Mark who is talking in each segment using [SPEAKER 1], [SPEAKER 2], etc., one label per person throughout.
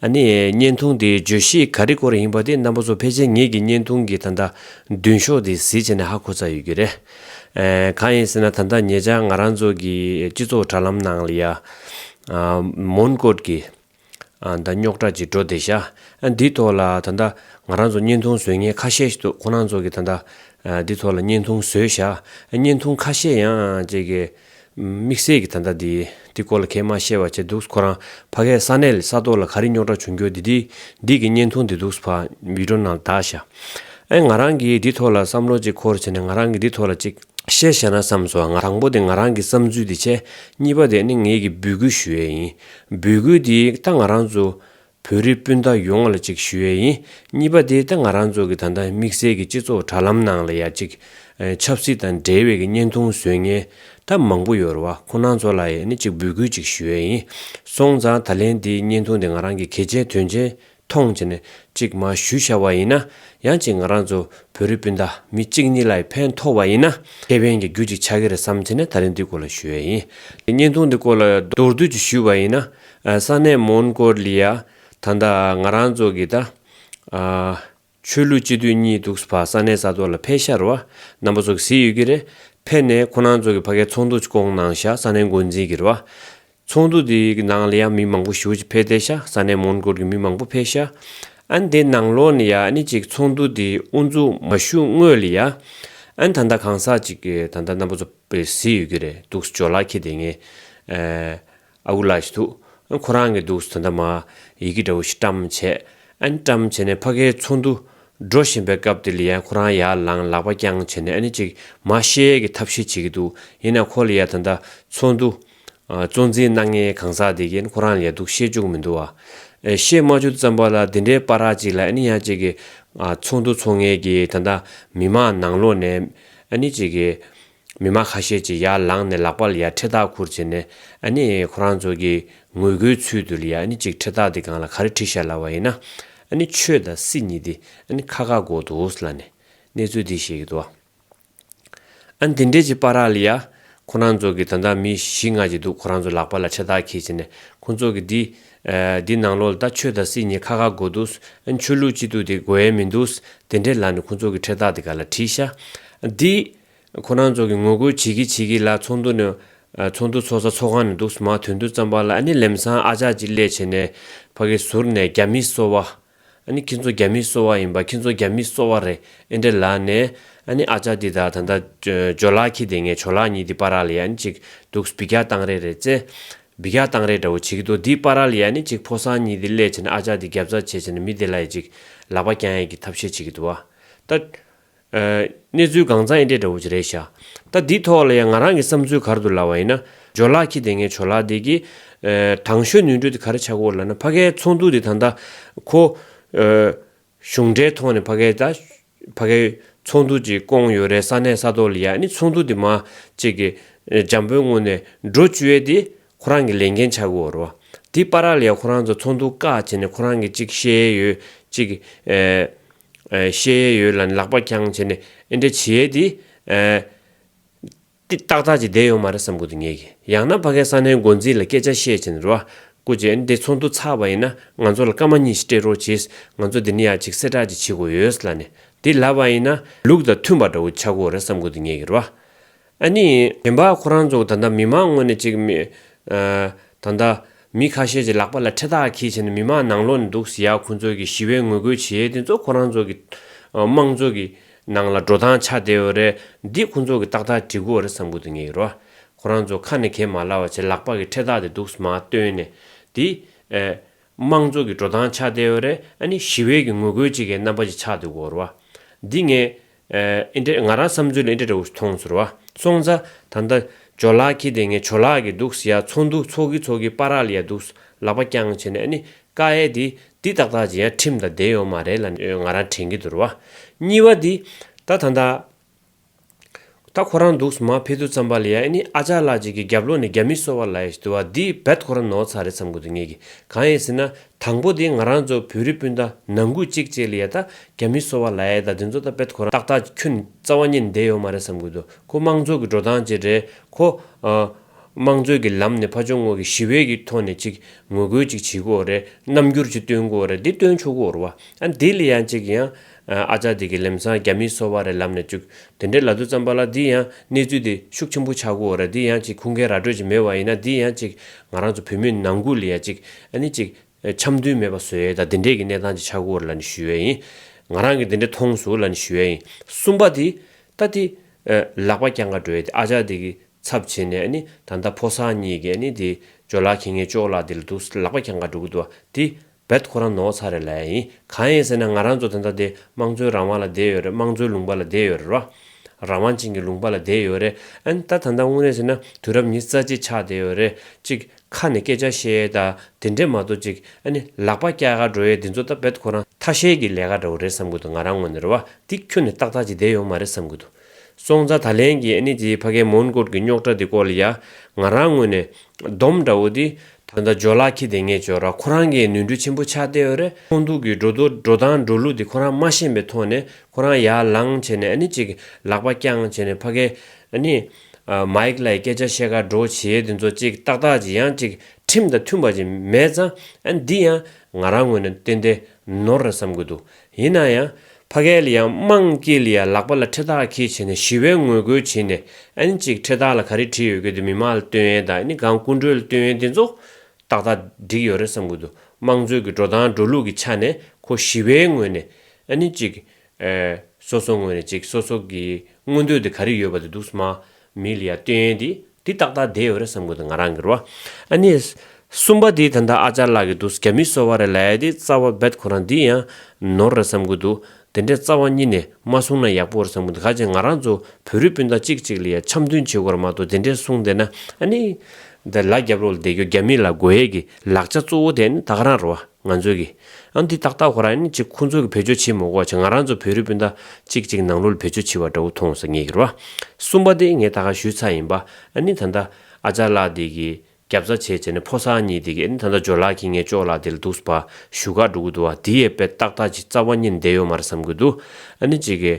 [SPEAKER 1] ཨ་ནི། བརྙན་ཐུང་དེའི་བརྗོད་གཞི་ག་རེ་སྐོར་ཡིན་པ་དེ་རྣམ་པ་ཚོ་ཕལ་ཆེར་ངེད་ཀྱི་བརྙན་ཐུང་གི་ད་ལྟ་མདུན་ཤོག་དེ་གཟིགས་བྱས་ནས་ཧ་གོ་ཚར་ཡོད་རྒྱུ་རེད། གང་ཡིན་ཟེར་ན་ད་ལྟ་ངེད་ཅག་ང་རང་ཚོ་གི་སྤྱི་ཚོགས་དྲ་ལམ་ནང་ལ་ཡ། མོན་བཀོད་ཀྱི། ད་རྙོག་དྲ་ཅིག་འགྲོ་བསྡད་ཤག་འདིའི་ཐོག་ལ་ད་ལྟ་ང་རང་ཚོ་བརྙན་ཐུང་བཟོས་མཁན་ཁ་ཤས་ཤིག་འདུག་ཁོ་རང་ཚོ་གི་ད་ལྟ་འདི་ཐོག་ལ་བརྙན་ཐུང་བཟོས་ཤག་བརྙན་ཐུང་ཁ་ཤས་ཡང་ཅིག། དམིགས་བསལ་གྱི་ད་ལྟ་འདི་འདི་སྐོར་ལ་ཁས་མ་བཤད་བ་བྱས་འདུག་ཁོ་རང་ཕ་གས་ས་གནས་ལས་ས་ཐོག་ལ་ག་རི་རྙོག་དྲ་བྱུང་འགྱོ་འདི་འདི་འདི་གི་བརྙན་ཐུང་འདི་འདུག་ཕ་བིདྲོ་ནང་ལ་དག་ཤག་ཨེ་ང་རང་གིས་འདི་ཐོག་ལ་བསམ་བློ་གཅིག་འཁོར་བྱས་ནས་ང་རང་གིས་འདི་ཐོག་ལ་གཅིག་བཤད་བཤད་ན་བསམ་སོང་ང་དང་པོ་དེ་ང་རང་གི་བསམ་ཚུལ་དེ་བྱས་གཉིས་པ་དེ་ནི་ངེད་ཀྱིས་འབུལ་སྐུལ་ཞུ་ཡས་ཡིན་འབུལ་སྐུལ་འདིའི་རྟགས་ང་རང་ཚོ་བོད་རིགས་སྤུན་ཟླ་ཡོངས་ལ་གཅིག་ཞུ་ཡས་ཡིན་གཉིས་པ་དེ་ད་ང་རང་ཚོ་གི་ད་ལྟ་དམིགས་བསལ་གི་སྤྱི་ཚོགས་དྲ་ལམ་ནང་ལ་ཡ་གཅིག་ཆབ་སྲིད་དང་འབྲེལ་བའི་གི་བརྙན་ཐུང་བཟོས་ངན་ད་མང་པོ་ཡོད་ར་བ་ཁོ་ནང་ཚོ་ལ་ཡས་ནི་གཅིག་འབུལ་སྐུལ་གཅིག་ཞུ་ཡས་ཡིན་སོང་ཙང་ད་ལན་དེའི་བརྙན་ཐུང་དེ་ང་རང་གི་གལ་ཆེན་དོན་ཆེན་ཐོང་ཆེ་ནས་གཅིག་མ་ཞུ་ཤ་བ་ཡིན་ན་ཡང་གཅིག་ང་རང་ཚོ་བོད་རིགས་སྤུན་ཟླ་མི་གཅིག་གཉིས་ལ་ཡི་ཕན་ཐོག་བ་ཡིན་ན་ཁེ་ཕན་གི་རྒྱུ་གཅིག་ཆགས་གི་རེད་བསམ་ཆེ་ནས་ད་ལན་དེའི་སྐོར་ལ་ཞུ་ཡས་ཡིན་དེ་བརྙན་ཐུང་དེ་སྐོར་ལ་མདོར་བསྡུས་ཀྱི་ཞུ་བ་ཡིན་ན་ས་གནས་མོན་གོར་ལི་ཡ་ད་ལྟ་ང་རང་ཚོ་གི་ད་ཆོས་ལུགས་སྤྱི་འཐུས་གཉིས་འདུག་བ་ས་གནས་ས་ཐོག་ལ་ཕེ་ཤར་བ་རྣམ་པ་ཚོ་གི་ཟིག་ཡོད་ཀྱི་རེད་ཕེ་ནས་ཁོ་རང་ཚོ་གི་བ་གའི་ཚོགས་འདུ་ཆྐོང་གནང་ཤག་ས་གནས་འགོ་འཛིན་གྱི་རེད་བ་ཚོགས་འདུ་དེ་གི་ནང་ལ་ཡང་མི་མང་པོ་ཞུགས་ཅིག་ཕེ་བསྡད་ཤག་ས་གནས་མོན་གོར་གྱི་མི་མང་པོ་ཕེ་ཤག་ཨན་དེ་ནང་ལོག་ནས་ཡ་ནི་ཅིག་ཚོགས་འདུ་དེ་དབུ་འཛུགས་མ་ཞུགས་དངོས་ལ་ཡ་ཨན་ད་ལྟ་གང་ཟག་ཅིག་གི་ད་ལྟ་རྣམ་པ་ཚོ་ཟིག་ཡོད་ཀྱི་རེད་འདུག་ཇོ་ལགས་ཁྱེད་དེ་ངས་ཨ་ཁུ་ལགས་ཤི་འདུག་ཨ་ཁོ་རང་གི་འདུག་ཟོ་ད་མ། ཡི་གེ་འདྲ་བོ་ཞིག་བཀྲམ་བྱས། ཨ་ནི་བཀྲམ་བྱས་ནས་ཕ་གའི་ཚོགས་འདུ། འགྲོ་བཞིན་པའི་སྐབས་དེ་ལི་ཡཱ་ཁོ་རང་ཡར་ལངས་ལག་པ་བརྐྱངས་བྱས་ནས་ཨ་ནི་ཅིག་མ་ཤེས་ཡས་ཀྱི་ཐབས་ཤེས་བྱེད་ཀྱི་འདུག་ཡིན་ནའི་ཁོ་ལི་ཡཱ་ད་ལྟ་ཚོགས་འདུ། གཙོ་འཛིན་སྣ་ལྔའི་གང་ཟག་དེ་ཀྱིན་ཁོ་རང་ལས་སྡུག་ཤེས་བཅུག་མི་འདུག་ཨ། ཤེས་མ་བཅུག་ཙམ་པ་ལ་འདི་འདྲའི་པ་རག་ཅིག་ལ་ཨ་ནི་ཡང་ཅིག་གིས། ཚོགས་འདུ་ཚོགས་ངེས་ཀྱིས་ད་ད་མི་མང་ནང་ལོགས་ནས། ཨ་ནི་ཅིག་གིས། མི་མང་ཁ་ཤས་ཀྱིས་ཡར་ལངས་ནས་ལག་པ་ལ་ཡར་ཁྲི་ཐག་ཁུར་བྱས་ནས་ཨ་ནི་ཁོ་རང་ཚོ་གི་ངོས་སྒོའི་ཚུལ་དུ་ལ་ཡར་ནི་ཅིག་ཁྲི་ཐག་དེ་གང་ལ་ག་རེ་ཁྲིད་ཤར་ལ་བ་ཡིན་ན་ཨ་ནི་ཆོས་དང་སྲིད་གཉིས་དེ་ཨ་ནི་ཁ་ཁ་འགོག་འདུག་ལ་ནི་གནས་ཚུལ་དེ་བཤད་ཀྱི་འདུག་ཨ་ནི་དེ་འདྲས་ཀྱི་པ་རག་ལ་ཡར་ཁོ་རང་ཚོ་གི་ད་ལྟ་མི་བཞི་ལྔ་ཅིག་འདུག་ཁོ་རང་ཚོ་ལག་པ་ལ་ཁྲི་ཐག་ཁྱེར་བྱས་ནས་ཁོ་ཚོ་གི་དེ་དེ་ནང་ལོག་ལ་ད་ཆོས་དང་སྲིད་གཉིས་ཁ་ཁ་འགོག་འདུག་ཨ་ནི་ཆོས་ལུགས་གཅིག་ཏུ་དེ་འགོ་ཡ་མི་འདུག་དེ་འདྲས་ལ་ནི་ཁོ་ཚོ་གི་ཁྲི་ཐག་དེ་ག་ལ་ཁྲིད་ཤར་ཨ་ནི་དེ་ཁོ་རང་ཚོ་གི་ངོ་རྒོལ་བྱེད་ཀྱི་བྱེད་ཀྱི་ལ་ཚོགས་འདུ་ནི་ཚོགས་འདུ་ཚོགས་ས་ཚོགས་ཁང་ནས་འདུག་སྨྲ་དོན་དུ་རྩམ་པ་ལ་ནི་ལེམ་སང་ཨ་ཅག་ཅིག་སླེ་བྱེད་ནས་ཕ་གི་ཟུར་ནས་རྒྱ་མི་གསོ་བ། ནི་ཁྱེད་ཚོ་རྒྱ་མི་གསོ་བ་ཡིན་པ་ཁྱེད་ཚོ་རྒྱ་མི་གསོ་བ་རེད་ཨེ་འདྲེ་ལ་ནས་ནི་ཨ་ཅག་འདི་དག་ད་ལྟ་ཇོ་ལགས་ཁྱི་དེ་ངས་ཇོ་ལགས་གཉིས་འདི་པ་ར་ལི་ཡ་ནི་ཅིག་འདུག་སྦི་རྒྱག་སྟངས་རེད་རེད་རྩེ། སྦི་རྒྱག་སྟངས་རེད་འདྲ་བོ་བྱེད་ཀྱི་འདུག་འདི་པ་ར་ལི་ཡ་ནི་ཅིག་ཕོ་སང་གཉིས་འདི་སླེ་བྱེད་ནས་ཨ་ཅག་འདི་རྒྱབ་རྩ་བྱེད་བྱེད་ནས་མི་དེ་ལ་ཡི་ཅིག་ལག་པ་བརྐྱང་ཡས་ཀྱི་ཐབས་ཤེས་བྱེད་ཀྱི་འདུག་བ། ད། གནས་ཚུལ་གང་ཚང་ཡིན་དྲན་འདྲ་བོ་ཅི་རེད་ཤག་ད་འདི་ཐོག་ལ་ཡང་ང་རང་གི་བསམ་ཚུལ་གར་འདུག་ལབ་བ་ཡིན་ན་ཇོ་ལགས་ཁྱི་དེ་ངའི་ཇོ་ལགས་དེ་གི་དང་གཞོན་ནུའི་འགྲོས་དེ་ག་རེ་ཆགས་སྐོར་ལབ་ན་ཕ་གའི་ཚོགས་འདུ་དེ་ད་ལྟ་ཁོ་གཞུང་འབྲེལ་ཐོག་ནས་ཕ་གའི་ད་ཕ་གའི་ཚོགས་འདུ་ཅིག་བསྐོང་ཡོད་རེད་ས་གནས་ས་ཐོག་ལ་ཡ་ནི་ཚོགས་འདུ་དེ་མ་ཅིག་གི་འཇམ་པོའི་ངོ་ནས་འགྲོ་བཅུ་ཡས་དེ་ཁོ་རང་གི་ལས་འགན་ཆགས་གི་འོ་རོ་དེ་པ་ར་ལ་ཡ་ཁོ་རང་ཚོ་ཚོགས་འདུ་བཀག་བྱས་ནས་ཁོ་རང་གི་ཅིག་ཤེས་ཡོད་ཅིག་བཤད་ཡས་ཡོད་ལ་ལག་པ་འཁྱང་བྱས་ནས་ཨེ་འདྲ་བྱས་ཡས་དེ། ཏག་ཏག་ཅིག་བསྡད་ཡོང་མ་རེད་བསམ་དགོས་དུ་ངེས་ཀྱི་ཡང་ན་ཕ་ཁའི་ས་ནའི་འགོ་འཛིན་ལ་སྐད་ཆ་བཤད་བྱས་ནས་རུ་བ་རྐུ་བྱས་འདི་ཚོགས་འདུ་ཚགས་པ་ཡིན་ན་ང་ཚོ་ལ་སྐར་མ་གཉིས་ཤིག་སྤྲད་རོགས་གྱིས་ང་ཚོ་འདི་ནས་ཡག་ཅིག་གསལ་བསྒྲགས་ཅིག་བྱེད་དགོས་ཡོད་ལ་ནས་དེ་ལབ་པ་ཡིན་ན་ལུགས་དང་མཐུན་པ་འདྲ་བོ་ཆགས་དགོས་རེད་བསམ་དགོས་དུ་ངེས་ཀྱི་རུ་བ་ཨ་ནི། དྲན་པ་ཁོ་རང་ཚོ་ད་ལྟ་མི་མང་ངོས་ནས་ཅིག། ད་ལྟ། མི་ཁ་ཤས་ཀྱི་ལག་པ་ལ་འཕྲེད་ཐག་གིས་བྱས་ནས་མི་མང་ནང་ལོག་ནས་འདུག་ཟེར་ཡ་ཁོ་ཚོ་གིས་ཞི་བའི་ངོ་རྒོལ་བྱེད་ཡས་དེ་ཚོ་ཁོ་རང་ཚོ་གི། དམངས་གཙོ་གི། ནང་ལ་འགྲོ་སྟངས་ཆ་དེ་འོ་རེད་འདི་ཁོ་ཚོ་གི་ཏག་ཏག་བྲིས་དགོས་རེད་བསམ་དགོས་དོན་ངེས་རོ། ཁོ་རང་ཚོ་ཁ་ནས་གས་མ་ལ་བ་བྱས་ལག་པ་གི་འཕྲེད་ཐག་དེ་འདུག་སྨ་བཏོན་ནས་དེ། དམངས་གཙོ་གི་འགྲོ་སྟངས་ཆ་དེ་འོ་རེད་ཨ་ནི་ཞི་བའི་གི་ངོ་རྒོལ་བྱེད་གའི་རྣམ་པ་ཅིག་ཆགས་འདུག་གོ་རོ། འདི་ངས། ཨེ་འདྲས་ང་རང་བསམ་ཚུལ་ལ་ཨེ་འདྲས་འདྲ་བོ་ཞིག་མཐོང་ཚོར་བ་སོང་ཚ་ད་ལྟ་ཇོ་ལགས་ཁྱེད་དེ་སྔའི་ཇོ་ལགས་གི་འདུག་ཟེར་ཡ་ཚོགས་འདུག་ཚོགས་ཀི་ཚོགས་ཀི་པ་རག་ལི་ཡ་འདུག་ལག་པ་རྐྱང་བྱེད་ནས་ཨ་ནི་ཀ་ཨེ་དེ་དེ་ཏག་ཏག་བྱེད་ཡ་ཁྲིམས་དང་བསྡད་ཡོང་མ་རེད་ལ་ང་རང་དྲན་གི་འདུར་བ་གཉིས་བ་དེ་ད་ད་ད་ད་ཁོ་རང་འདུག་མ་ཕེ་ཐུ་བརྩམས་པ་ལི་ཡ་ཨེ་ནི་ཨ་ཅག་ལགས་གཅིག་གི་རྒྱབ་ལོག་ནས་རྒྱ་མི་གསོ་བ་ལ་ཡ་ཞིག་འདུག་བ་དེ་བད་ཁོ་རང་ནོར་ཚ་རེད་བསམ་གི་འདུག་ངེད་ཀི་གང་ཡིན་ཟེར་ན་དང་པོ་དེ་ང་རང་ཚོ་བོད་རི་སྤུན་ཟླ་ནང་ཁུལ་གཅིག་བཅས་ལ་ཡ་ད་རྒྱ་མི་གསོ་བ་ལ་ཡ་ད་དེ་ཚོ་ད་བེད་ཁོ་རང་ཏག་ཏག་ཅིག་ཁྱོད་རྩ་བ་ཉིད་ནས་བསྡད་ཡོད་མ་རེད་བསམ་དགོས་འདུག་ཁོ་དམངས་གཙོ་གི་འགྲོ་སྟངས་བཅས་རེད་ཁོ། དམངས་གཙོའི་གི་ལམ་ནས་ཕ་ཆོ་ངོ་གི་ཞི་བའི་གི་ཐོག་ནས་ཅིག་ངོ་རྒོལ་ཅིག་བྱེད་དགོས་རེད་རྣམ་འགྱུར་ཅིག་སྟོན་དགོས་རེད་འདི་སྟོན་ཆོག་གོ་རུ་བ་ཨ་འདི་ལ་ཡ་ཅིག་ཡང་ཨ་ཅག་འདི་གི་ལེམ་སང་རྒྱ་མིའི་སོ་བ་རེ་ལབ་ནས་བཅུག་དེ་འདྲའི་ལ་དུ་ཙམ་པ་ལ་འདི་ཡང་གནས་ཚུལ་འདི་ཤུགས་ཆེན་པོ་ཆགས་དགོས་འོ་ར་འདི་ཡང་ཅིག་ཁུང་ཁའི་ར་སྤྲོད་ཅིག་མེད་བ་ཡིན་ན་འདི་ཡང་ཅིག་ང་རང་ཚོ་བུད་མེད་ནང་ཁུལ་ལ་ཡང་ཅིག་ཨ་ནི་ཅིག་འཆམ་མཐུན་མེད་པ་བཟོ་ཡའི་ད་འདི་འདྲའི་གི་གནས་སྟངས་ཅིག་ཆགས་དགོས་འོ་ར་ལ་ནི་ཞུ་ཡའི་ཡིན་ང་རང་གི་འདི་འདྲའི་ཐོངས་སུ་ལ་ནི་ཞུ་ཡའི་ཡིན་གསུམ་པ་དེ་ད་དེ་ལག་པ་རྐྱང་ག་འགྲོ་ཡའི་དེ་ཨ་ཅག་འདི་གི་ཚབ་བྱེད་ནས་ཨ་ནི་ད་ད་ཕོ་སང་གཉིས་གི་ཨ་ནི་དེ་ཇོ་ལགས་ཁྱེད་ངའི་ཅོག་ལ་དེ་ལ་དུ་ལག་པ་རྐྱང་ག་འགྲོ་གི་འདུག་བ་དེ་བེད་ཁོ་རང་ནོར་ཚ་རེད་ལ་ཡིན་གང་ཡིན་ཟེར་ན་ང་རང་ཚོ་དེ་འདྲ་དེ་དམངས་གཙོའི་རང་དབང་ལ་བསྡད་ཡོད་རེད་དམངས་གཙོའི་ལུང་པ་ལ་བསྡད་ཡོད་རེད་རོ། རང་དབང་ཅན་གྱི་ལུང་པ་ལ་བསྡད་ཡོད་རེད་ཨན་ད་ད་ད་དངོས་གནས་ཟེར་ན་དུས་རབས་ཉི་རྩ་གཅིག་ཆགས་བསྡད་ཡོད་རེད་ཅིག་ཁ་ནས་སྐད་ཆ་བཤད་ཡས་ད་དེ་འདྲས་མ་གཏོགས་ཅིག་ཨ་ནི་ལག་པ་སྐྱག་ག་འགྲོ་ཡས་དེ་ཚོ་ད་བེད་ཁོ་རང་ཐ་ཤལ་གྱི་ལས་ཀ་འདྲ་བོ་རེད་བསམ་གི་འདུག་ང་རང་ངོ་ནས་རེད་བ་འདིག་ཁྱོད་ནས་ཏག་ཏག་ཅིག་བསྡད་ཡོང་མ་རེད་བསམ་གི་འདུག་སོང་ཙང་ད་ལན་གྱི་ཨ་ནེ་དེའི་ཕ་གའི་མོན་སྐོར་གྱི་རྙོག་དྲ་འདི་སྐོར་ལ་ཡང་ང་རང་ངོས་ནས། སྡོམ་འདྲ་བོ་འདི། ད་ལྟ་ཇོ་ལགས་ཁྱི་དེ་ངས་བྱོས་ར་ཁོ་རང་གིས་ནུས་འདྲུ་ཆེན་པོ་ཆགས་ཏེ་འོད་རེ་ཁོང་འདུག་གི་འགྲོ་འདུག་འགྲོ་སྟངས་འགྲོ་ལུགས་འདི་ཁོ་རང་མ་ཤེས་པའི་ཐོག་ནས་ཁོ་རང་ཡར་ལངས་བྱས་ནས་ཨ་ནེ་ཅིག་ལག་པ་བརྐྱངས་བྱས་ནས་ཕ་གའི་ཨ་ནེ། Mike། ལ་ཡི་སྐད་ཆ་བཤད་དགའ་འགྲོ་བྱེད་འདི་ཚོ་ཅིག་ཏག་ཏག་ཅིག་ཡང་ཅིག་ཁྲིམས་དང་མཐུན་པ་ཅིག་མེད་ཙང་ཨ་ནེ་འདི་ཡང་ང་རང་ངོས་ནས་བསྟན་ཏེ་ནོར་རེ་བསམ་གི་འདུག་ཡིན་ན་ཡང་ཕ་གལ་ཡང་དམངས་སྐྱིད་ལ་ཡང་ལག་པ་ལ་ཁྲི་ཐག་ཁྱེད་བྱས་ནས་ཞི་བའི་ངོས་རྒོལ་བྱས་ནས་ཨན་གཅིག་ཁྲི་ཐག་ལ་ག་རེ་བྲིས་ཡོད་གི་འདུག་མི་དམངས་ལ་སྟོན་ཡན་དང་ཨནི་གང་སྐུ་མགྲོན་ལ་སྟོན་ཡན་དེ་ཚོ་ཏག་ཏག་འགྲིག་ཡོད་རེད་བསམ་གི་འདུག་དམངས་གཙོའི་གི་འགྲོ་སྟངས་འགྲོ་ལུགས་གི་ཆ་ནས་ཁོ་ཞི་བའི་ངོས་ནས་ཨནི་གཅིག་སོ་སོ་ངོས་ནས་གཅིག་སོ་སོ་གི་མངོན་འདོད་དེ་ག་རེ་ཡོད་པ་དེ་འདུག་སྨ་མི་ལ་ཡང་སྟོན་ཡན་དེ་འདི་ཏག་ཏག་བསྡད་ཡོད་རེད་བསམ་དགོས་འདུག་ང་རང་གིར་བ། ཨ་ནི། གསུམ་པ་དེ་ད་ལྟ་ཨ་ཅག་ལག་གི་འདུག་རྒྱ་མིས་གསོལ་བ་རེ་ལས་དེ་རྩ་བ་རྦད་ཁོ་རང་འདི་ཡང། ནོར་རེད་བསམ་དགོས་འདུག་དེ་འདྲའི་རྩ་བ་གཉིས་ནས་མ་བཟུང་ན་ཡག་པོ་རེད་བསམ་གི་འདུག་ག་ཅེ་ང་རང་ཚོ་བོད་རིགས་སྤུན་ཟླ་གཅིག་གཅིག་ལ་ཡང་འཆམ་མཐུན་བྱེད་དགོས་ར་མ་གཏོགས་དེ་འདྲའི་གསུང་བསྡད་ན་ཨ་ནི། འདི་ལ་རྒྱབ་རོགས་ལ་བསྡད་རྒྱུ་རྒྱ་མི་ལ་དགོས་ཡས་ཀྱི་ལག་ཆ་གཙོ་བོ་དེ་ཨ་ནི་ད་ག་རང་རེད་བ། ང་ཚོས་ཀྱི། ཨ་འདི་ཏག་ཏག་ཁོ་རང་ནི་ཅིག་ཁོ་ཚོ་གི་བེད་སྤྱོད་བྱེད་མོ་གོ་ཆ་ང་རང་ཚོ་བོད་རིགས་སྤུན་ཟླ་ཅིག་ཅིག་ནང་ལོལ་བེད་སྤྱོད་བྱེད་པ་འདྲ་བོ་མཐོང་སོང་ངེད་ཀྱི་རོ་ཨ། གསུམ་པ་དེ་ངས་ད་ག་ཞུས་ཚ་ཡིན་པ་ཨ་ནི་ད་ད་ཨ་ཅག་ལགས་དེ་གི་རྒྱབ་རྩ་བྱས་བྱས་ནས་ཕོ་སར་གཉིས་དེ་གི་ཨ་ནི་ད་ད་ཇོ་ལགས་ཁྱི་ངས་ཅོག་ལགས་དེ་ལ་འདུག་སྤ་ཞུ་ག་འགྲོ་གི་འདུག་ཨ་དེ་ཡས་པས་ཏག་ཏག་ཅིག་རྩ་བ་གཉིས་བསྡད་ཡོད་མ་རེད་བསམ་གྱི་འདུག་ཨ་ནི་ཅིག་གི།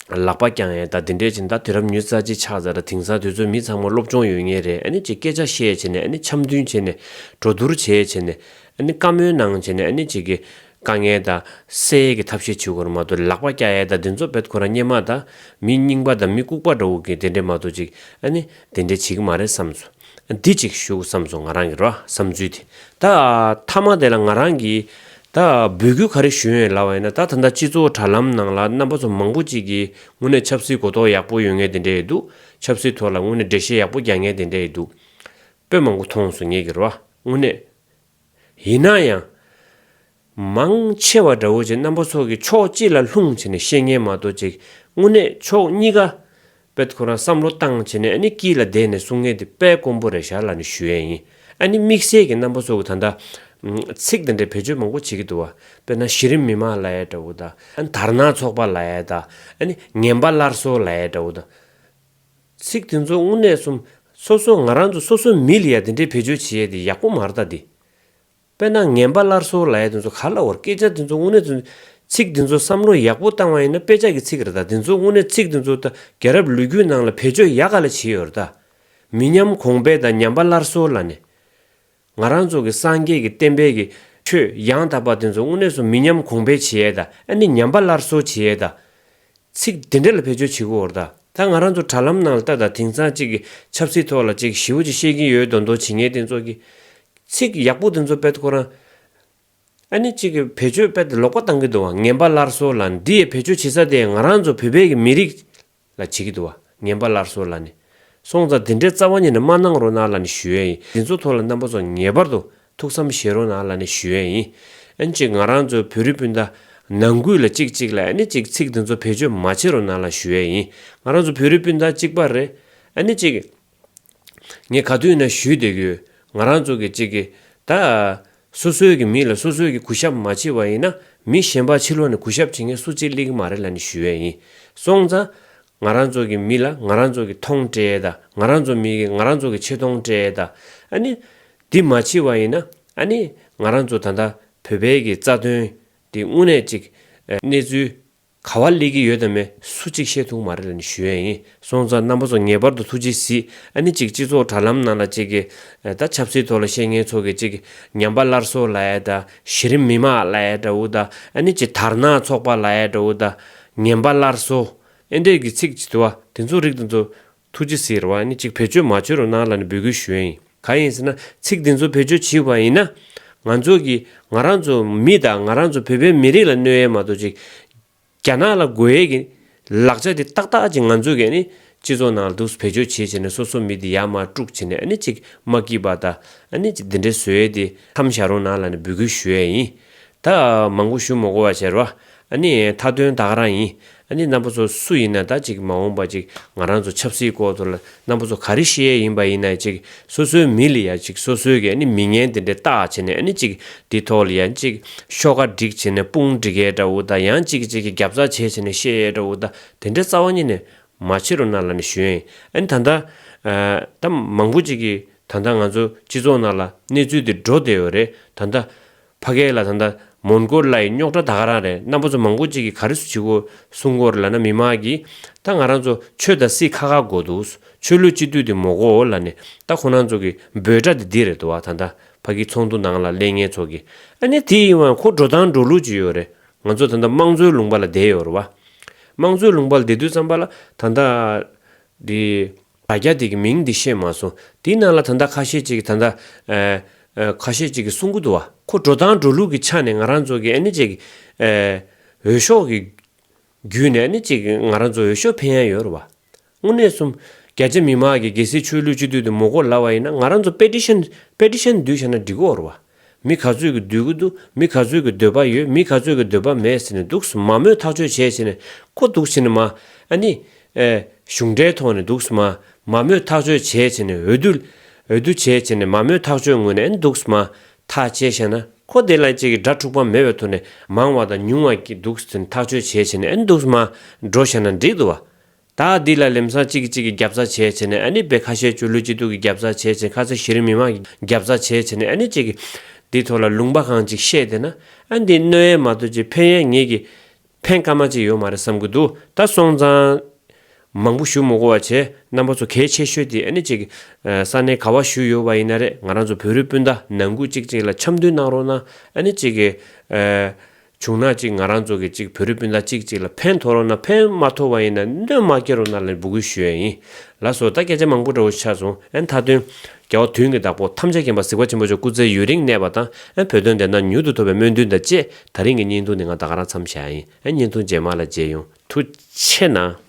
[SPEAKER 1] ལག་པ་བརྐྱང་ཡས་ད་དེ་འདྲས་བྱིན་ད་དུས་རབས་ཉུལ་རྩ་ཆེ་ཆགས་ཚར་ད་དེང་སང་དུས་ཚོད་མི་ཚང་མ་སློབ་སྦྱོང་ཡོད་ངེས་རེད་ཨ་ནི་ཅེ་སྐད་ཆ་བཤད་བྱེད་ནས་ཨ་ནི་འཆམ་མཐུན་བྱེད་ནས་གྲོ་བསྡུར་བྱེད་བྱེད་ནས་ཨ་ནི་བཀའ་མོལ་གནང་བྱེད་ནས་ཨ་ནི་ཅེ་གི་དཀའ་ངལ་ད་སེལ་ཡས་ཀྱི་ཐབས་ཤེས་བྱེད་ཁོར་མ་གཏོགས་ལག་པ་བརྐྱ་ཡས་ད་དེ་ཚོ་བེད་ཁོ་རང་སྙན་མ་ད་མི་རྙིང་པ་ད་མི་ལྐུགས་པ་འདྲ་བོ་གི་དེ་འདྲས་མ་གཏོགས་ཅིག་ཨ་ནི་དེ་འདྲས་བྱེད་ཀྱི་མ་རེད་བསམས་སོ། འདི་གཅིག་བཞུགས་བསམས་སོང་ང་རང་གི་རོ་བསམ་ཚུལ་དེ། ད་ཐ་མ་དེ་ལ་ང་རང་གིས་ད་འབོད་སྐུལ་ག་རེ་ཞུ་ཡོན་ལ་བ་ཡིན་ན་ད་ད་ལྟ་སྤྱི་ཚོགས་དྲ་ལམ་ནང་ལ་རྣམ་པ་ཚོ་མང་པོ་གཅིག་གིས་དངོས་གནས་ཆབ་སྲིད་གོ་རྟོགས་ཡག་པོ་ཡོད་ངེས་དེ་འདྲས་ཡོད་འདུག་ཆབ་སྲིད་ཐོག་ལ་དངོས་གནས་འགྲེལ་བཤད་ཡག་པོ་རྒྱག་ངེས་དེ་འདྲས་ཡོད་འདུག་པོད་མང་པོ་མཐོང་སོང་ངེད་ཀྱི་རོ་བ་དངོས་གནས། ཡིན་ན་ཡང། མང་ཆེ་བ་དགྲ་བོ་ཆེ་རྣམ་པ་ཚོགས་ཀྱི་ཕྱོགས་གཅིག་ལ་ལྷུང་བྱས་ནས་བཤད་ཉན་མ་གཏོགས་ཅིག་དངོས་གནས་ཕྱོགས་གཉིས་ཀ་པད་ཁོ་རང་བསམ་བློ་བཏང་བྱས་ནས་ཨ་ནི་སྐྱིད་ལ་བསྡད་ནས་གསུང་ངན་དེ་པད་ཀོང་པོ་རེད་ཞར་ལ་ནི་ཞུ་ཡས་ཡིན་ཨ་ནི་དམིགས་བསལ་གྱི་རྣམ་པ་ཚོགས་ཀྱི་ད་ལྟ་ཚིག་དང་འབྲེལ་བེད་སྤྱོད་མང་པོ་བྱེད་ཀྱི་འདུག་བ་དཔེར་ན་གཞི་རིམ་མི་དམངས་ལ་ཡས་དགྲ་བོ་དང་ཨ་ནི་དར་ནག་ཚོགས་པ་ལ་ཡས་དང་ཨ་ནི་ངན་པ་སླར་གསོ་ལ་ཡས་དགྲ་བོ་དང། ཚིག་དེ་ཚོ་དངོས་གནས་སོམས་སོ་སོ་ང་རང་ཚོ་སོ་སོ་མི་ལ་ཡས་དེ་འདྲའི་བེད་སྤྱོད་བྱེད་ཡས་དེ་ཡག་པོ་མ་རྟ་དེ། དཔེར་ན་ངན་པ་སླར་གསོ་ལ་ཡ་དེ་ཚོ་ག་ལ་བོར་སྐད་ཆ་དེ་ཚོ་དངོས་གནས་དོན་ཚིག་དེ་ཚོ་བསམ་བློ་ཡག་པོ་བཏང་བ་ཡིན་ན་དཔེ་ཆ་གི་ཚིག་རེ་དང་དེ་ཚོ་དངོས་གནས་ཚིག་དེ་ཚོ་ད་རྒྱ་རབས་ལུས་རྒྱུད་ནང་ལ་བེད་སྤྱོད་ཡག་ག་ལ་བྱེད་ཡོད་རེ་ད། མི་ཉམས་གོང་འཕེལ་དང་ཉམས་པ་སླར་གསོ་ལ་ནི། ང་རང་ཚོ་གི་སངས་རྒྱས་ཀྱི་བསྟན་པའི་གི་ཆོས་ཡང་དག་པ་དེ་ཚོ་དངོས་གནས་སུ་མི་ཉམས་གོང་འཕེལ་བྱེད་ཡས་ད་ཨ་ནི་ཉམས་པ་སླར་གསོ་བྱེད་ཡས་ད། ཚིག་འདི་འདྲ་ལ་བེད་སྤྱོད་བྱེད་དགོས་འོར་ད་ལྟ་ང་རང་ཚོ་དྲ་ལམ་ནང་ལ་ལྟ་དང་དེང་སང་གཅིག་གི་ཆབ་སྲིད་ཐོག་ལ་གཅིག་གི་ཞི་བོ་གཅིག་བཤད་ཀྱིན་ཡོད་དོ་མདོ་ཇི་སྙེད་དེ་ཚོ་གི། ཚིག་ཡག་པོ་དེ་ཚོ་དཔེ་ཁོ་རང། ཨ་ནི་གཅིག་གི་བེད་སྤྱོད་དཔེ་དེ་ལོག་པ་བཏང་གི་འདུག་བ་ངན་པ་སླར་གསོ་ལ་འདི་ཡི་བེད་སྤྱོད་བྱེད་ས་དེ་ང་རང་ཚོ་བོད་པའི་གི་མི་རིགས་ལ་བྱེད་ཀྱི་འདུག་བ་ངན་པ་སླར་གསོ་ལ་ནི། སོང་ཙང་དེ་འདྲའི་རྩ་བ་ཉིད་ནི་མ་གནང་རོགས་གནང་ལ་ནི་ཞུ་ཡས་ཡིན་འདི་ཚོ་ཐོག་ལ་རྣམ་པ་ཚོ་ངེས་པར་དུ་ཐུགས་བསམ་བཞེས་རོགས་གནང་ལ་ནི་ཞུ་ཡས་ཡིན། ཨན་ཅིག་ང་རང་ཚོ་བོད་རིགས་སྤུན་ཟླ། ནང་ཁུལ་ལ་ཅིག་ཅིག་ལ་ཨ་ནི་ཅིག་ཚིག་འདི་ཚོ་བེད་སྤྱོད་མ་བྱེད་རོགས་གནང་ལ་ཞུ་ཡས་ཡིན། ང་རང་ཚོ་བོད་རིགས་སྤུན་ཟླ་གཅིག་པ་རེད། ཨ་ནི་ཅིག། ངས་ག་དུས་ན་ཞུས་བསྡད་ཡོད། ང་རང་ཚོ་གི་ཅིག་གི། ད། སོ་སོའི་གི་མི་ལ་སོ་སོའི་གི་གུ་ཞབས་མ་བྱེད་བ་ཡིན་ན། མི་གཞན་པ་ཕྱི་ལོགས་ནས་གུ་ཞབས་བྱེད་མཁན་སུ་གཅིག་ལིག་མ་རེད་ལ་ནི་ཞུ་ཡས་ཡིན། སོང་ཙང། ང་རང་ཚོ་གི་མི་ལ་ང་རང་ཚོ་གི་མཐོང་བཀྲེས་ད། ང་རང་ཚོ་མི་གི་ང་རང་ཚོ་གི་ཆེ་མཐོང་བཀྲེས་ད། ཨ་ནི། འདི་མ་ཕྱི་བ་ཡིན་ན་ཨ་ནི་ང་རང་ཚོ་ད་ལྟ་བོད་བལ་གྱི་རྩ་དོན་འདི་དངོས་གནས་ཅིག་གནས་ཚུལ་ག་བ་ལེགས་ཀྱི་ཡོད་དམ་མེད་སུ་གཅིག་ཤེས་ཐུག་མ་རེད་ལ་ནི་ཞུ་ཡས་ཡིན་སོང་ཙང་རྣམ་པ་ཚོ་ངེས་པར་དུ་ཐུགས་རྗེ་གཟིགས་ཨ་ནི་ཅིག་སྤྱི་ཚོགས་དྲ་ལམ་ནང་ལ་ཅིག་གི་ད་ཆབ་སྲིད་ཐོག་ལ་བཤད་ངན་ཚོགས་གི་ཅིག་ཉམས་པ་སླར་གསོ་ལ་ཡས་ད་གཞི་རིམ་མི་དམངས་ལ་ཡས་དྲ་བོ་ད་ཨ་ནི་ཅིག་དར་ནག་ཚོགས་པ་ལ་ཡས་དྲ་བོ་ད་ངན་པ་སླར་གསོ་ཨེ་འདྲས་གི་ཚིག་བྱི་དོ་བ་དེ་ཚོ་རིག་ད་ཚོ་ཐུགས་རྗེ་ཟེར་བ་ནི་ཅིག་བེད་སྤྱོད་མ་བྱོས་རོགས་གནང་ལ་ནི་འབོད་སྐུལ་ཞུ་ཡ་ཡིན། གང་ཡིན་ཟེར་ན་ཚིག་འདི་ཚོ་བེད་སྤྱོད་བྱིས་བ་ཡིན་ན། ང་ཚོ་གིས་ང་རང་ཚོ་མི་དང་ང་རང་ཚོ་བོད་པའི་མི་རིགས་ལ་གནོད་ཡས་མ་གཏོགས་ཅིག་རྒྱ་ནག་ལ་དགོས་ཡས་ཀྱི་ལག་ཆ་དེ་ཏག་ཏག་ཅིག་ང་ཚོ་གིས་ནི་སྤྱི་ཚོགས་ནང་ལ་དུག་བེད་སྤྱོད་བྱས་བྱས་ནས་སོ་སོ་མི་དེ་ཡར་མར་དཀྲུགས་བྱས་ནས་ནི་ཅིག་མ་སྐྱིད་པ་ད་ནི་ཅིག་འདི་འདྲའི་བཟོས་ཡས་དེ་མཚམས་བཞག་རོགས་གནང་ལ་ནི་འབོད་སྐུལ་ཞུ་ཡ་ཡིན། ད་མང་པོ་ཞུ་མོ་གོ་བ་བྱེད་རོགས་ཨཱ་ནི། མཐའ་དོན་བདག་རང་ཡིན། ཨཱ་ནི་རྣམ་པ་ཚོ་སུ་ཡིན་ན་ད་ཅིག་མ་འོངས་པ་ཅིག་ང་རང་ཚོ་ཆབ་སྲིད་སྐོར་ཚོ་ལ་རྣམ་པ་ཚོ་ག་རེ་བཤད་ཡས་ཡིན་པ་ཡིན་ན་ཅིག་སོ་སོའི་མི་ལ་ཡ་ཅིག་སོ་སོའི་གི་ཨཱ་ནི་མི་ངན་དེ་འདྲའི་ལྟ་བྱེད་ནས་ཨཱ་ནི་ཅིག་འདི་ཐོག་ལ་ཡ་ཅིག་ཤོག་ཁ་སྒྲིག་བྱེད་ནས་དཔུང་སྒྲིག་ཡས་འདྲ་བོ་དང་ཡང་ཅིག་ཅིག་གི་རྒྱབ་རྩ་བྱས་བྱེད་ནས་བཤད་ཡས་འདྲ་བོ་དང་དེ་འདྲའི་རྩ་བ་ཉིད་ནས་མ་བྱེད་རོགས་གནང་ལ་ནི་ཞུ་ཡས་ཨཱ་ནི་ད་ལྟ་ད་མང་པོ་ཅིག་གི་ད་ལྟ་ང་ཚོ་སྤྱི་ཚོགས་ནང་ལ་གནས་ཚུལ་འདི་འགྲོ་བསྡད་ཡོད་རེད་ད་ལྟ་ཕ་གས་ལ་ད་ལྟ་མོན་གྷོ་ལ་ཡི་རྙོག་དྲ་ད་ག་རང་རེད་རྣམ་པ་ཚོ་མང་པོ་གཅིག་གི་ག་རེ་སུ་བྱི་གོ་སུ་འགོ་རེ་ལ་ན་མི་མ་གི་ད་ང་རང་ཚོ་ཆོས་དང་སི་ཁ་ཁ་གོ་འདུག་སུ་ཆོས་ལུས་གཅིག་བསྡུས་དེ་མོ་གོ་ལ་ནི་ད་ཁོ་རང་ཚོ་གི་འབོད་སྒྲ་དེ་འདི་རེད་དོ་ད་ད་ཕ་གི་ཚོགས་འདུ་ནང་ལ་ལས་ངན་ཚོགས་གི་ཨ་ནི་དེ་ཡིན་བ་ཁོ་འགྲོ་སྟངས་འགྲོ་ལུགས་ཅི་ཡོད་རེད་ང་ཚོ་ད་ད་དམངས་གཙོའི་ལུང་པ་ལ་བསྡད་ཡོད་རེད་བ་དམངས་གཙོའི་ལུང་པ་ལ་བསྡད་དུས་ཙམ་པ་ལ་ད་ད་དེ། ད་རྒྱ་དེ་གི་མིང་འདི་ཤེས་མ་སོང་དེའི་ནང་ལ་ད་ལྟ་ཁ་ཤས་ཅིག་གི་ད་ལྟ་ཁ་ཤས་ཅིག་གི་གསུང་གི་འདུག་བ་ཁོ་འགྲོ་སྟངས་འགྲོ་ལུགས་གི་ཆ་ནས་ང་རང་ཚོ་གི་ཨ་ནེ་ཅིག་འོས་ཤོག་གི་རྒྱུད་ནས་ཨ་ནེ་ཅིག་ང་རང་ཚོ་འོས་ཤོག་འཕེན་ཡ་ཡོད་རུ་བ་དངོས་གནས་གསུམ་རྒྱ་ཆེ་མི་མང་གི་རྒྱལ་སྲིད་ཆོས་ལུགས་སྤྱི་འཐུས་དུ་མོ་གོ་ལ་བ་ཡིན་ན་ང་རང་ཚོ་པེ་ཏི་ཤན་པེ་ཏི་ཤན་འདུས་བྱས་ན་འགྲིག་གོ་རུ་བ། མི་ག་ཚོད་ཀྱི་འདོད་གི་འདུག་མི་ག་ཚོད་ཀྱི་འདོད་པ་ཡོད་མི་ག་ཚོད་ཀྱི་འདོད་པ་མེད་ཟེར་ནས་འདུག་སུ་མ་མོས་ཐག་གཅོད་བྱས་ཟེར་ནས་ཀོ་འདུག་ཟེར་ནས་མ་ཨ་ནི། གཞུང་འབྲེལ་ཐོག་ནས་འདུག་སུ་མ་མ་མོས་ཐག་གཅོད་བྱས་ཟེར་ནས་འོས་བསྡུ། འོས་བསྡུ་བྱས་ཟེར་ནས་མ་མོས་ཐག་གཅོད་ངོས་ནས་ཨེ་འདུག་སུ་མ་ཐག་བཅད་བཤད་ན་ཀོ་དེ་ལ་ཅིག་གི་སྒྲ་འཁྲུག་པ་མེད་པའི་ཐོག་ནས་མང་བ་དང་ཉུང་བ་ཀྱི་འདུག་ཟེར་ནས་ཐག་གཅོད་བྱས་ཟེར་ནས་ཨེ་འདུག་སུ་མ་འགྲོ་བཤད་ན་འགྲིག་འདུག་བ་ད་འདི་ལ་ལེམས་སང་གཅིག་གིས་གཅིག་གི་རྒྱབ་རྩ་བྱས་བྱས་ནས་ཨ་ནི་བེ་ཁ་ཤའི་ཆུ་ལུད་སྐྱིད་སྡུག་གི་རྒྱབ་རྩ་བྱས་བྱས་ཁ་ཚ་གཞི་རིམ་མི་དམངས་ཀྱི་རྒྱབ་རྩ་བྱས་བྱས་ནས་ཨ་ནི་ཅིག་གིས་འདི་ཐོག་ལ་ལུང་པ་གང་གཅིག་བཤད་བསྡད་ན་ཨ་འདི་གནོད་ཡན་མ་དོ་ཅིག་ཕན་ཡན་ངེད་ཀྱིས་ཕན་ཀ་མ་ཅིག་ཡོད་མ་རེད་བསམ་གྱི་འདུག་ད་སོང་ཙང་མང་པོ་ཞུ་མི་གོ་བ་བྱས་རྣམ་པ་ཚོ་གལ་ཆེ་ཤོས་དེ་ཨ་ནི་ཅིག་གིས་ས་གནས་ག་བ་ཞུས་ཡོད་པ་ཡིན་ན་རེད་ང་རང་ཚོ་བོད་རིགས་སྤུན་ཟླ་ནང་ཁུལ་གཅིག་གཅིག་ལ་འཆམ་མཐུན་གནང་རོགས་གནང་ཨ་ནི་ཅིག་གིས་བྱུང་ན་གཅིག་ང་རང་ཚོ་གི་གཅིག་བོད་རི་སྤུན་ཟླ་གཅིག་གཅིག་ལ་ཕན་ཐོག་རོགས་ན་ཕན་མ་ཐོག་བ་ཡིན་ན་སྣོན་མ་སྐྱེ་རོགས་ན་ལ་འབུ་སྐུལ་ཞུ་ཡ་ཡིན་ལ་སོ་ད་སྐད་ཆ་མང་པོ་འདྲ་བོ་ཆགས་སོང་ཨན་ད་དོན་རྒྱ་བ་དུན་གི་བདག་པོ་ཐམས་ཅད་མཁྱེན་པ་གཟིགས་པ་ཆེན་པོ་མཆོག་སྐུ་ཚེ་ཡུན་རིང་གནས་པ་དང་ཨན་བོད་དོན་བདེན་མཐའ་མྱུར་དུ་ཐོབ་པའི་སྨོན་འདུན་དང་བཅས་ད་རིང་གི་བརྙན་ཐུང་འདི་ང་ད་ག་རང་འཚམས་བཞག་ཡིན་ཨན་བརྙན་ཐུང་རྗེས་མ་ལ་མཇལ་ཡོང་ཐུ་ཆེ་ན།